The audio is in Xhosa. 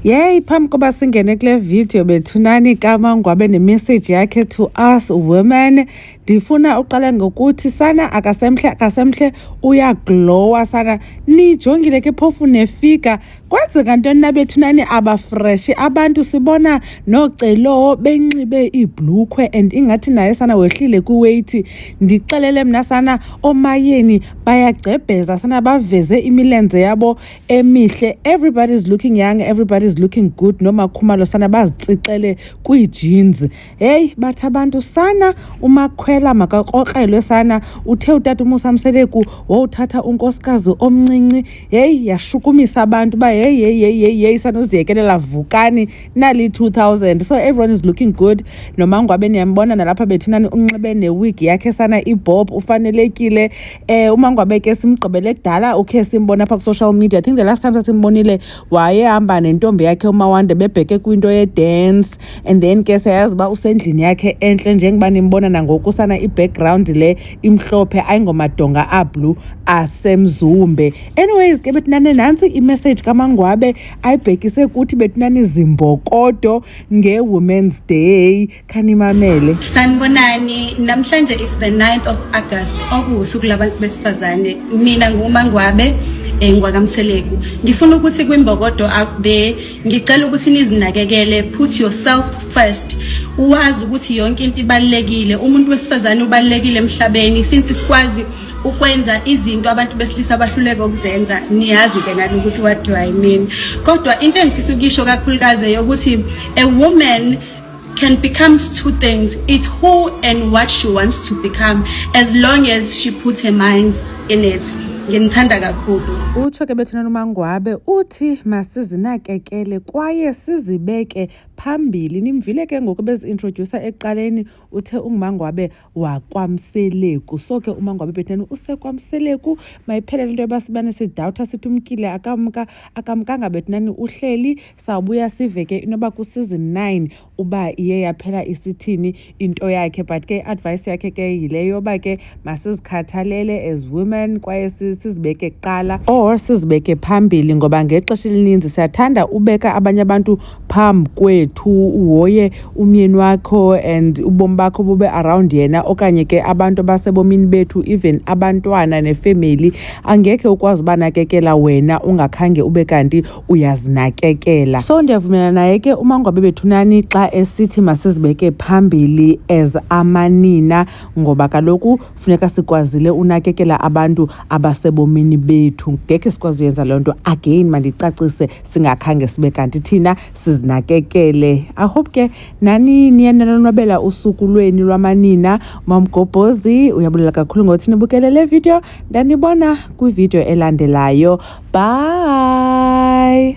Yey phambi koba singene kule video bethunani kamangwa abe nemessage yakhe to us women ndifuna uqale ngokuthi sana akasemhle akasemhle uyaglowa sana nijongile ke phofu nefika kwenzeka ntoni na bethunani abafreshi abantu sibona nocelowo benxibe iibhlukhwe and ingathi naye sana wehlile kwiweyithi ndixelele mna sana omayeni bayagcebheza sana baveze imilenze yabo emihle everybody is looking young everybody is looking good nomakhumalo sana bazitsixele kwiijinzi heyi bathi abantu sana umakhwela makakrokrelwe sana uthe utata umusa mseleku wowuthatha unkosikazi omncinci heyi yashukumisa abantu uba heyi heyi heyi heyi heyi sanoziyekelela vukani nali 2000 so everyone is looking good nomangwabe niyambona nalapha bethinani unxibe newig yakhe sana ibhob ufanelekile Eh umangwabe ke simgqibele kudala ukhe simbona apha ku-social media i think the last time sasimbonile wayehamba nentombi yakhe umawande bebheke kwinto ye-dance and then ke siyayazi uba usendlini yakhe entle njengoba nimbona nangoku sana i-background le imhlophe ayingomadonga ablue asemzumbe anyways ke betinane nantsi imessage kamangwabe ayibhekise kuthi betinani zimbokodo nge-women's day khanimamele sanibonani namhlanje is the 9th of august okuwusuku labantu besifazane mina ngumangwabe eh, ngwakamseleku ngifuna ukuthi kwimbokodo out there ngicela ukuthi nizinakekele put yourself first uwazi ukuthi yonke into ibalulekile umuntu wesifazane ubalulekile emhlabeni since sikwazi ukwenza izinto abantu besilisa abahluleka ukuzenza niyazi-ke nani ukuthi what do i mean kodwa into engifisa ukuyisho kakhulukazi yokuthi a woman can become two things. It's who and what she wants to become as long as she puts her mind in it. nginithanda kakhulu utsho ke bethuna nomangwabe uthi masizinakekele kwaye sizibeke phambili nimvile ke ngoku beziintrodyusa ekuqaleni uthe ungumangwabe wakwamseleku so ke uma ngabe betheni usekwamseleku mayiphelele into yoba sibane sidawutha sithi umtyile akamka akamkanga bethinani uhleli sawubuya sive ke inoba kuseason nine uba iye yaphela isithini into yakhe but ke i-advice yakhe ke yile yoba ke masizikhathalele as women kwaye sizibeke kuqala or sizibeke phambili ngoba ngexesha elininzi siyathanda ubeka abanye abantu phambi kwethu uhoye umyeni wakho and ubomi bakho bube around yena okanye ke abantu abasebomini bethu even abantwana nefemeli angekhe ukwazi ubanakekela wena ungakhange ube kanti uyazinakekela so ndiyavumelana naye ke umangwabe bethunani xa esithi masizibeke phambili as amanina ngoba kaloku funeka sikwazile unakekela abantu abasebomini bethu ngekhe sikwazi uyenza loo nto again mandicacise singakhange sibe kanti thina sizinakekele i hope ke nani niye nanonwabela usuku lweni lwamanina mamgobhozi uyabulela kakhulu ngothi nibukele le video ndanibona kwividiyo elandelayo bye